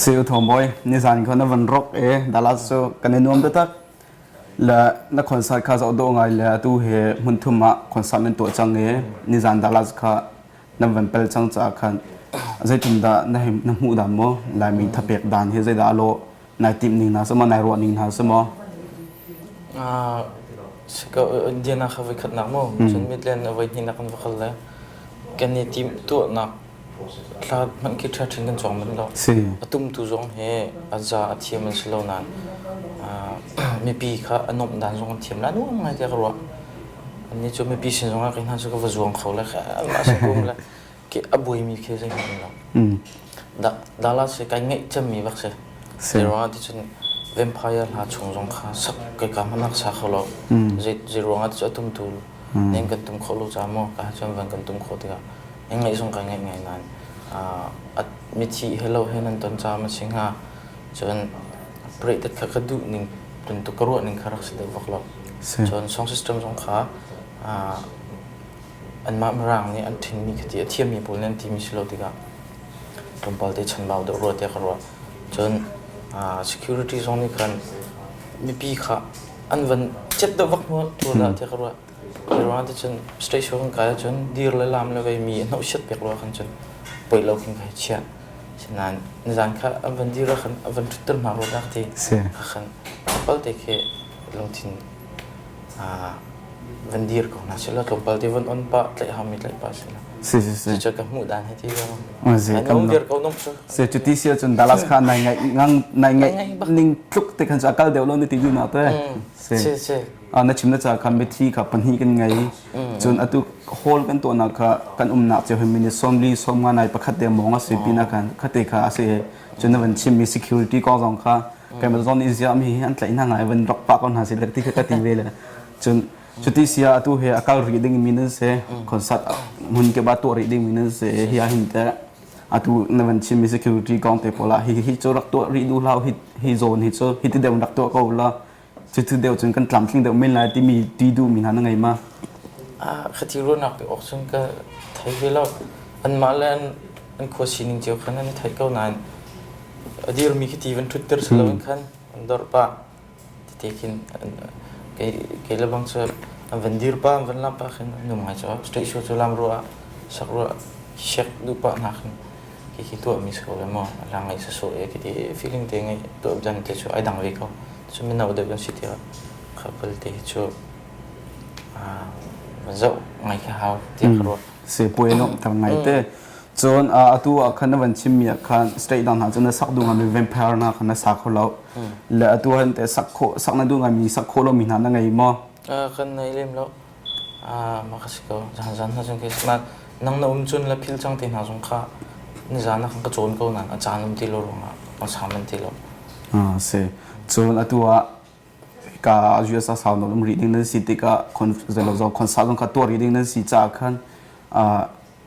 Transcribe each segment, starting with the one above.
siu thomoi nizan ko na van rok e dalat so kan nuam da tak la na concert kha zo do ngai la tu he mun thuma concert men to chang e nizan dalat kha nan van pel cang caah khan zeitindah na hmuh dan maw laimi thapek dan hi zeidah a lawh nai tim ning hna samaw nai ruah ning hna samaw sika india na kha voi khat nak mo cun midland na voi hni nak kan vakal le kan ni tim tu nak thla man ki tha thin kan chong man lo atum tu zong he aza athiam an silo nan mipi kha anom dan zong an thiam lan ngai te ka ruah Annih cu mipi sin zongah kei hna cu ka va zuang kho le kha Allah sin kum le ke a buaimi khi zei hmanh lo. Dah dala si kai ngeih cemmi bak si. Si ruangah ti cun vampire hna chung zong kha sak kai ka hmanak sa kho lo. Zei zei ruangah ti cu a tum tu ning kan tum khawh lo caah maw ka cun van kan tum khawh tikah ning ngeih zong kai ngeih ngai nain a mithi he lo he nan ton caah ma si hnga cun project kha ka duh ning bantuk ka ruah ning kha rak si deuh bak lo. Si. Cun sound system zong kha uh, anmah mirang nih an thinmi khati a thiammi pawl nih an timi si lo tikah tlawmpal te chanbau deuh rua tiah ka ruah. Cun uh, security zong nih khan mipi kha an van cet deuh bak hnu tu dah tiah ka ruah. Hi ruang ah cun straight show kan kai ahcun dir le lam le vei mi hnawhsiat pek ruang ah khan cun poi lo khin ka hei chiah. Sinain nizan kha an van dir ah khan a van ṭhut ter hna rua tak ti ka khan tlawmpalte khi lungthin van dir ko hna sila tlawmpal ti van on pa tlaih hau mi tlaih pa sila cucu ka hmuh dan hi ti lo nong dir ko nong cu se cuti sia cun Dallas kha nai ngai ngang nai ngai ning tluk te khan chu akal deuh lo ni ti gu ma te se se Ah, na chim na ca kha mithi kha pahnih kan ngei cun atu hall kan tuahnak kha kan umnak cio hin minute sawmli sawmnga nai pakhat te mawng a si pina kan khate kha a si cun na van chim mi security kong zong kha kan zon in ziah mi hi an tlaih hna ngai van rak pa ko hna si le ti kha ka ti ve le cun cuti sia atu he akal ri ding mi nan se concert mun ke ba to ri ding mi nan se hi a hin te atu na van chim mi security kong te pola hi hi chu rak to ri du lau hi hi zone hi chu hi ti dem rak to ko la Cucu deu cun kan tlamtling deuh men lai timi ti duhmi hna na ngei ma? Ah, khati ruahnak pe awk cun ka thei ve lo. Anmah le an, an khua sining cio khan an i theih ko nain a dirmi khi ti van ṭhutter si loin khan an dorh pah. Tite khin an, kei, kei le bang cu an van dir pah, an van lam pah khin an um ngai caah. Straight show cu lam ruah ah, sak ruah, siak duh pah hna khin Hihi tuahmi sawh le maw a lang i sasawh e ka ti i feeling te ngeih tuah dan te cu ai dang ve ko. Cu mino deuh an si tiah couple te hi cu zoh ngai khi hau tiah ka ruah. Sepuai lawmh ter ngai te. Cun atu ah khan na van chimmi ah khan state dang hna cu na sak duh ngami vampire na khan na sa kho lo. Le atu han te sak khawh sak na duh ngami sak khawh lomi hna na ngei maw? Kan ngei lem lo. Mak a si ko. Zan hna cun Christmas nang na um cun le philh cang ti hna zong kha nizan ah khan ka cawn ko nain a caan um ti lo ruangah ka sa manh ti lo. A si. Cun atu ah ka US ah sau nawn um rih ding nan si tikah zei lo zong concert zong ka tuah rih ding nan si caah khan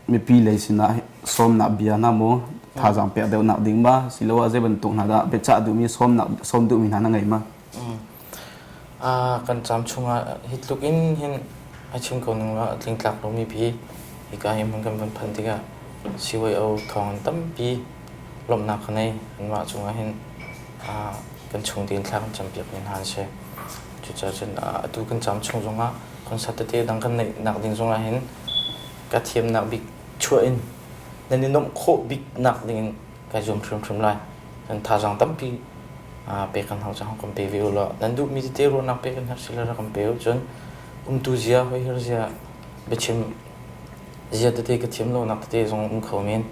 mipi lei sinah sawmnak bia hna maw thazaang pek deuhnak ding ma siloah zei bantuk hna dah biachah duhmi sawmnak sawm duhmi hna na ngei ma a kan cam chungah hi tluk in hin a chim ko ning la tling tlak lomi pi hika hi mun kan van phan tikah CYO thawng an tampi lomhnak ka nei anmah chungah hin kan chung din thlak an champiak ni hna se cucacun atu kan cam chung zongah concert tete dang kan neih nak ding zongah hin ka thiamnak bik chuah in nan i nuamh khawh bik nak dingin kai zuam hrimhrim lai kan thazang tampi pe kan hau cang kan pe ve u law nan duhmi tete ruahnak pe kan herh si le rak kan pe u cun umtu zia hoihir zia biachim zia tete ka thiam lonak tete zong um kho men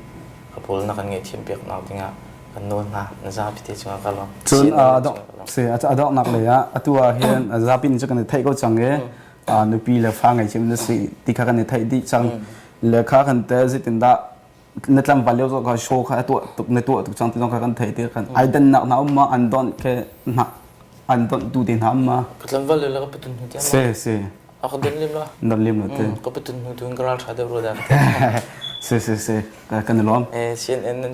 ka pawl na kan nge thiam piak nak dingah kan nawl hna na za pite cungah ka lawm cun a dok se a dok nak lei ah atu ah hin zapi ni cu kan theih ko cang e pa nupi le fa ngei cim na si ti kha kan i theih dih cang le kha kan te zitin dah na tlangval leo zo ka show kha tuah tuk na tuah tuk cang ti zong kha kan theih tir kan ai dan nak na um ma an don ke na an don tu te na um ma ka tlangval le la ka patun hnu se se a ka don lim la don lim lo te ka patun hnu tun ka ral tha de ro da se se se kan lom eh cnn